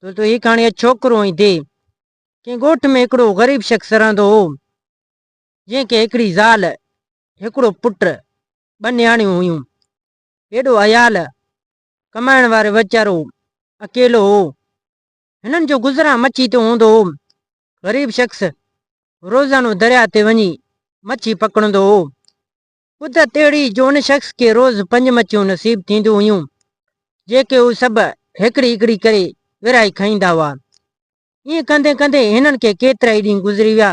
دوستو هي ڪهاڻي اڄ ڇوڪرو ۽ دي ڪنهن ڳوٺ ۾ هڪڙو غريب شخص رهندو هو جنهن کي هڪڙي زال هڪڙو پٽ ٻه نياڻيون هيون هيڏو عيال ڪمائڻ وارو ويچارو اڪيلو هو هنن جو گذران مڇي تي هوندو هو غريب شخص روزانو درياء تي وڃي مڇي پڪڙندو هو ٻڌ تهڙي جو ان شخص کي روز پنج مڇيون نصيب ٿينديون هيون، جيڪي هو سڀ هڪڙي هڪڙي ڪري ورهائي کائيندا هئا. ائين ڪندي ڪندي هنن کي ڪيترائي ڏينهن گذري ويا،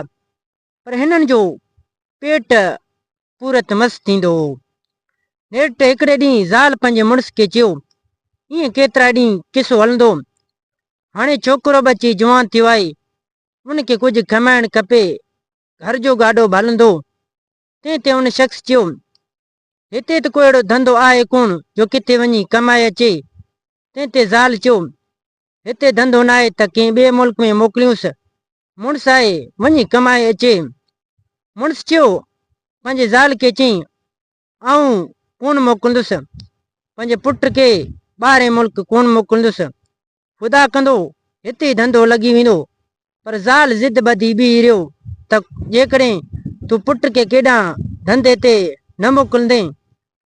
پر هنن جو پيٽ پورت مس ٿيندو هو. نيٺ هڪڙي ڏينهن زال پنهنجي مڙس کي چيو، ائين ڪيترا ڏينهن قصو هلندو، هاڻي ڇوڪرو به اچي جوان ٿيو آهي، ان کي ڪجهه کمائڻ کپي، گهر جو گاڏو به هلندو، تنهن تي ان شخص چيو، هتي ته ڪو اهڙو ڌنڌو آهي ڪونه جو ڪٿي وڃي ڪمائي اچي. تنهن تي زال چيو، هتي ڌنڌو ناهي ته ڪنهن ٻئي ملڪ ۾ موڪليونس، مڙس آهي، وڃي ڪمائي اچي. مڙس چيو، پنهنجي زال کي چئين، آئون ڪونه موڪلندس، پنهنجي پٽ کي ٻاهرئين ملڪ ڪونه موڪلندس، خدا ڪندو هتي ڌنڌو لڳي ويندو. پر زال ضد ٻڌي بيهي رهيو ته جيڪڏهن تون پٽ کي ڪيڏانهن ڌنڌي تي نه موڪلندين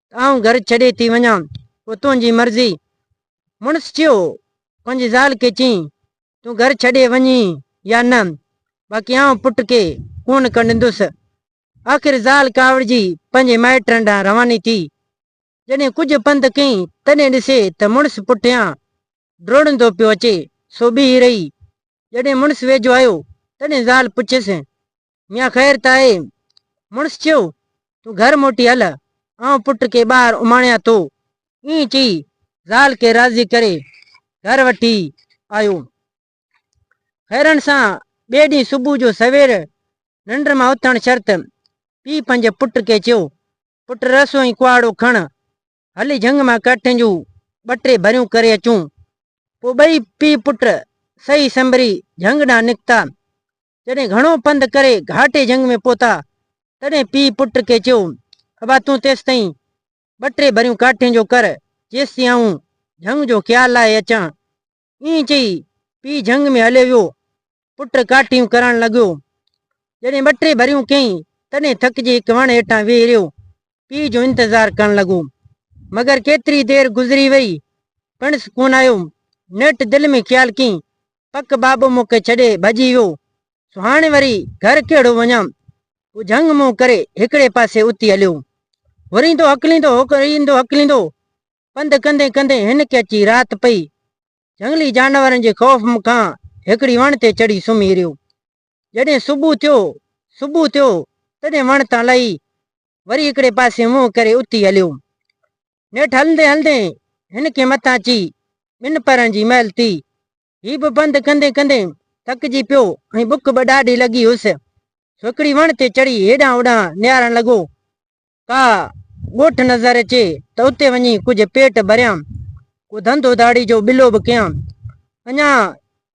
ته آئون گهر ڇڏي ٿي وڃان، پوء تنهنجي مرضي. مڙس چيو، پنهنجي زال کي چئين، تون گهر ڇڏي وڃين يا نه، باقي آئون پٽ کي ڪونه ڪنڊندس. آخر زال ڪاوڙجي پنهنجي مائٽن ڏانهن رواني ٿي. جڏهن ڪجهه پنڌ ڪئين، تڏهن ڏسي ته مڙس پٺيان ڊوڙندو پيو اچي، سو بيهي رهي. جڏهن مڙس ويجهو آيو، تڏهن زال پڇيس، ميان خير ته آهي؟ مڙس چيو، تون گهر موٽي هل، آئون پٽ کي ٻاهر اماڻيان ٿو. ائين چئي زال کي راضي ڪري گهر وٺي آيو. هيرن سان ٻئي ڏينهن صبح جو سوير ننڊ مان اٿڻ شرط پيء پنهنجي پٽ کي چيو، پٽ رسو ۽ ڪهاڙو کڻ، هلي جهنگ مان ڪاٺين جون ٻه ٽي ڀريون ڪري اچون. پوء ٻئي پيء پٽ سهي سنبري جهنگ ڏانهن نڪتا. جڏهن گهڻو پنڌ ڪري گهاٽي جهنگ ۾ پهتا، تڏهن پيء پٽ کي چيو، ابا تون تيستائين ٻه ٽي ڀريون ڪاٺين جو ڪر، جيستائين آئون جهنگ جو خيال لاهي اچان. ائين چئي، پيء جهنگ ۾ هليو ويو. پٽ ڪاٺيون ڪرڻ لڳو. جڏهن ٻه ٽي ڀريون ڪيائين، تڏهن ٿڪجي هڪ وڻ هيٺان ويهي رهيو. پيء جو انتظار ڪرڻ لڳو. مگر ڪيتري دير گذري ويئي، پڻس ڪونه آيو. نيٺ دل ۾ خيال ڪيائين، پڪ بابو مون کي ڇڏي ڀڄي ويو، سو هاڻي وري گهر ڪهڙو وڃان. هو جهنگ منهن ڪري هڪڙي پاسي اتي هليو. هريندو هڪليندو، هريندو هڪليندو، پنڌ ڪندي ڪندي هن کي اچي رات پئي. جهنگلي جانورن جي خوف م کان هڪڙي وڻ تي چڙهي سمهي رهيو. جڏهن صبح ٿيو صبح ٿيو تڏهن وڻ تان لهي وري هڪڙي پاسي منهن ڪري اٿي هليو. نيٺ هلندي هلندي هن کي متان اچي ٻن پهرن جي مهل ٿي. هي به پنڌ ڪندي ڪندي ٿڪجي پيو ۽ بک به ڏاڍي لڳي هيس سو هڪڙي وڻ تي چڙهي هيڏانهن هوڏانهن نهارڻ لڳو. ڪا ڳوٺ نظر اچي ته اتي وڃي ڪجهه پيٽ ڀريان، ڪو ڌنڌو ڌاڙي جو ٻلو به ڪيان. اڃا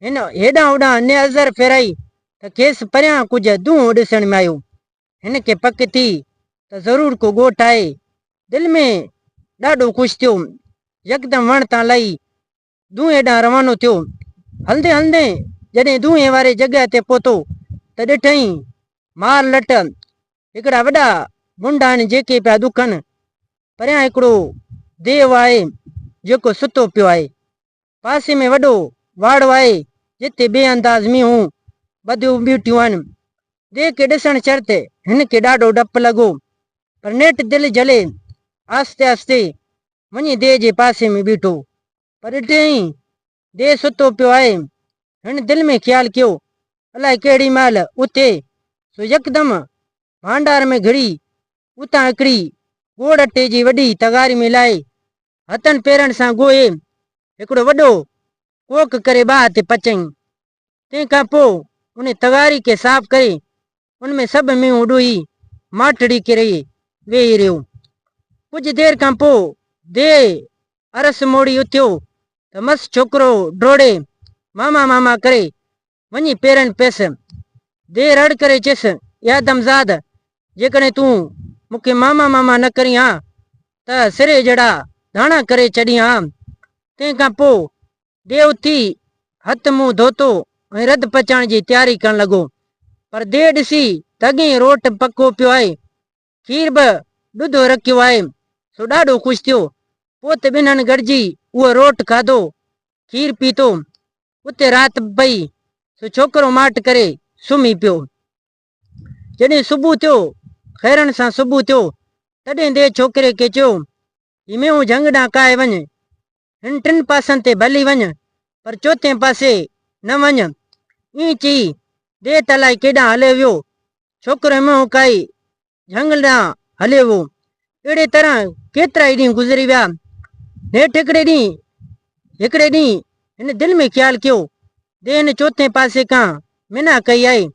هن هيڏانهن هوڏانهن نئظر ڦيرائي ته کيس پريان ڪجهه دونهون ڏسڻ ۾ آيو. هن کي پڪ ٿي ته ضرور ڪو ڳوٺ آهي. دل ۾ ڏاڍو خوش ٿيو. يڪدم وڻ تان لهي دونهين هيڏانهن روانو ٿيو. هلندي هلندي جڏهن دونهين واري جڳهه تي پهتو ته ڏٺئين مار لٽ هڪڙا وڏا منڊ آهن جيڪي پيا ڏکن. پريان هڪڙو ديو آهي جيڪو ستو پيو آهي. پاسي ۾ وڏو واڙو آهي جتي بي انداز مينهون ٻڌيون بيٺيون آهن. ديو کي ڏسڻ شرط هن کي ڏاڍو ڊپ لڳو پر نيٺ دل جهلي آهستي آهستي وڃي ديء جي پاسي ۾ بيٺو. پر ڏٺيائين، ديء ستو پيو آهي. هن دل ۾ خيال ڪيو، الائي ڪهڙي مهل اٿي، سو يڪدم ڀانڊار ۾ گهڙي، اتان هڪڙي ڳوڙ اٽي جي وڏي تغاري ۾ لاهي، هٿن پيرن سان ڳوهي، هڪڙو وڏو ڪوڪ ڪري ٻاهه تي پچيائين. تنهن کان پوء انهي تغاري کي صاف ڪري ان ۾ سڀ مينهن اڏوهي ماٺڙي ڪري ويهي رهيو. ڪجهه دير کان پوء ديء عرس موڙي اٿيو ته مس ڇوڪرو ڊوڙي ماما ماما ڪري وڃي پيرن پيس. ديء رڙ ڪري چيس، اي آدمزاد! جيڪڏهن تون مون کي ماما ماما نه ڪرين ها ته سري جهڙا ڌاڻا ڪري ڇڏين ها. تنهن کان پوء ديء اٿي، هٿ منهن ڌوتو ۽ رڌ پچائڻ جي تياري ڪرڻ لڳو، پر ديء ڏسي ته اڳئين روٽ پڪو پيو آهي، کير به ڏڌو رکيو آهي، سو ڏاڍو خوش ٿيو. پوء ته ٻنهن گڏجي اهو روٽ کاڌو، کير پيتو. اتي رات به پئي، سو ڇوڪرو ماٺ ڪري سمهي پيو. جڏهن صبح ٿيو، خيرن سان صبح ٿيو، تڏهن ديء ڇوڪري کي چيو، هيميون جهنگ ڏانهن ڪاهي وڃ، هن ٽن پاسن تي ڀلي وڃ، پر چوٿين پاسي نه وڃ. ائين چئي، ديء ته الائي ڪيڏانهن هليو ويو. ڇوڪرو هيميون ڪاهي جهنگ ڏانهن هليو ويو. اهڙي طرح ڪيترائي ڏينهن گذري ويا. نيٺ هڪڙي ڏينهن هڪڙي ڏينهن هن دل ۾ خيال ڪيو دي هن چوٿين پاسي کان منا ڪئي آهي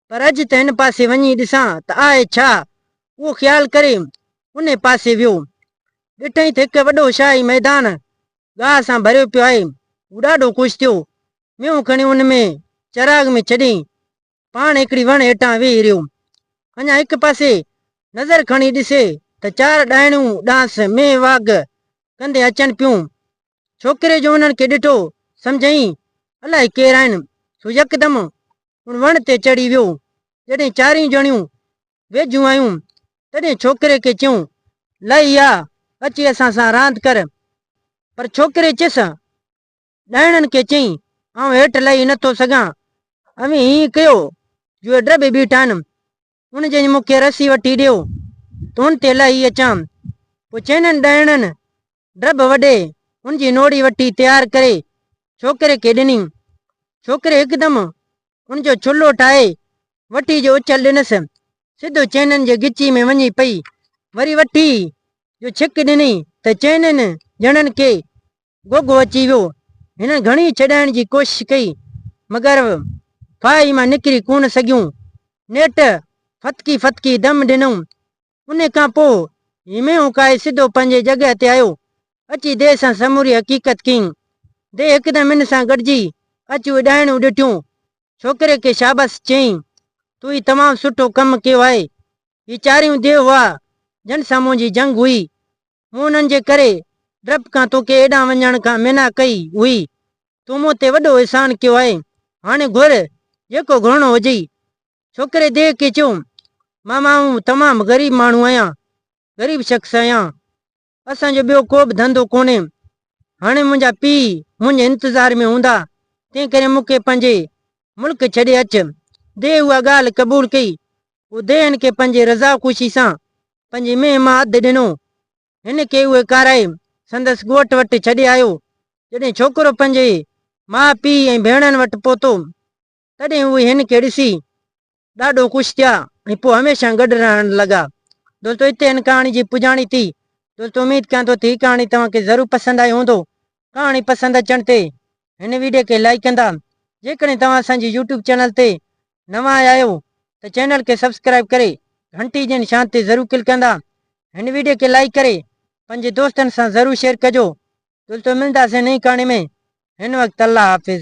پر اڄ ته هن پاسي وڃي ڏسان ته آهي ڇا؟ اهو خيال ڪري انهي پاسي ويو. ڏٺئين ته هڪ وڏو شاهي ميدان گاهه سان ڀريو پيو آهي. هو ڏاڍو خوش ٿيو. مينهون کڻي ان ۾ چراغ ۾ ڇڏيئين. پاڻ هڪڙي وڻ هيٺان ويهي رهيو. اڃا هڪ پاسي نظر کڻي ڏسي ته چار ڏائڻيون ڏانهس مينهن واگ ڪندي اچن پيون. ڇوڪري جو انهن کي ڏٺو سمجهيئي الائي ڪير آهن، سو يڪدم ان وڻ تي چڙهي ويو. جڏهن چارئي ڄڻيون ويجهيون آيون، تڏهن ڇوڪري کي چيون، لئي آ، اچي اسان سان راند ڪر. پر ڇوڪري چيس، ڏائڻن کي چيائين، آئون هيٺ لهي نه ٿو سگهان. اوهين ائين ڪيو، جو اي ڊربي بيٺا آهن، ان جي مون کي رسي وٺي ڏيو، ته ان تي لهي اچان. پوء چئنن ڏائڻن ڊرب وڍي، ان جي نوڙي وٺي تيار ڪري، ڇوڪري کي ڏني. ڇوڪري هڪدم ان جو ڇلو ٺاهي، وٺي جو اڇل ڏنس، سڌو چئنن جي ڳچي ۾ وڃي پئي. وري وٺي جو ڇڪ ڏني، ته چئنن ڄڻن کي گوگو اچي ويو. هنن گهڻي ڇڏائڻ جي ڪوشش ڪئي، مگر ڦاهي مان نڪري ڪونه سگهيون. نيٺ ڦٿڪي ڦٿڪي دم ڏنائون. انهي کان پوء هيمي اوڪائي سڌو پنهنجي جڳهه تي آيو. اچي ديهه سان سموري حقيقت ڪيائين. ديهه هڪدم هن سان گڏجي اچيو اڏايڻيون ڏٺيون. ڇوڪري کي شابس چيائين، تو هي تمام سٺو ڪم ڪيو آهي. هي چاريون ديهه هئا، جن سان منهنجي جنگ هئي. مون انهن جي ڪري ڊپ کان تو کي ايڏانهن وڃڻ کان منع ڪئي هئي. تو مون تي وڏو احسان ڪيو آهي. هاڻي گهر، جيڪو گهرڻو هجئي. ڇوڪري ديهه کي چيو، ماما آئون تمام غريب ماڻهو آهيان، غريب شخص آهيان. اسان جو ٻيو ڪو به ڌنڌو ڪونهي. هاڻي منهنجا پيء منهنجي انتظار ۾ هوندا، تنهنڪري مون کي پنهنجي ملڪ ڇڏي اچ. ديهه اها ڳالهه قبول ڪئي. ٻڌي هن کي پنهنجي رضا خوشي سان پنهنجي مينهن مان اڌ ڏنو. هن کي اهي کارائي سندس ڳوٺ وٽ ڇڏي آيو. جڏهن ڇوڪرو پنهنجي ماء پيء ۽ ڀيڻن وٽ پهتو، تڏهن اهي هن کي ڏسي ڏاڍو خوش ٿيا ۽ پوء هميشه گڏ رهڻ لڳا. دوستو هتي هن ڪهاڻي جي پڄاڻي ٿي. دوستو اميد ڪيان ٿو ته هي ڪهاڻي توهان کي ضرور پسند آئي هوندو. ڪهاڻي پسند اچڻ تي هن ويڊيو کي لائيڪ ڪندا جيڪڏهن توهان اسان جي يوٽيوب چينل تي نوان آيا آهيو ته چينل کي سبسڪرائيب ڪري گهنٽي جي نشان تي ضرور ڪلڪ ڪندا هن ويڊيو کي لائيڪ ڪري پنهنجي دوستن سان ضرور شيئر ڪجو دوستو ملنداسين نئين ڪهاڻي ۾ هن وقت الله حافظ.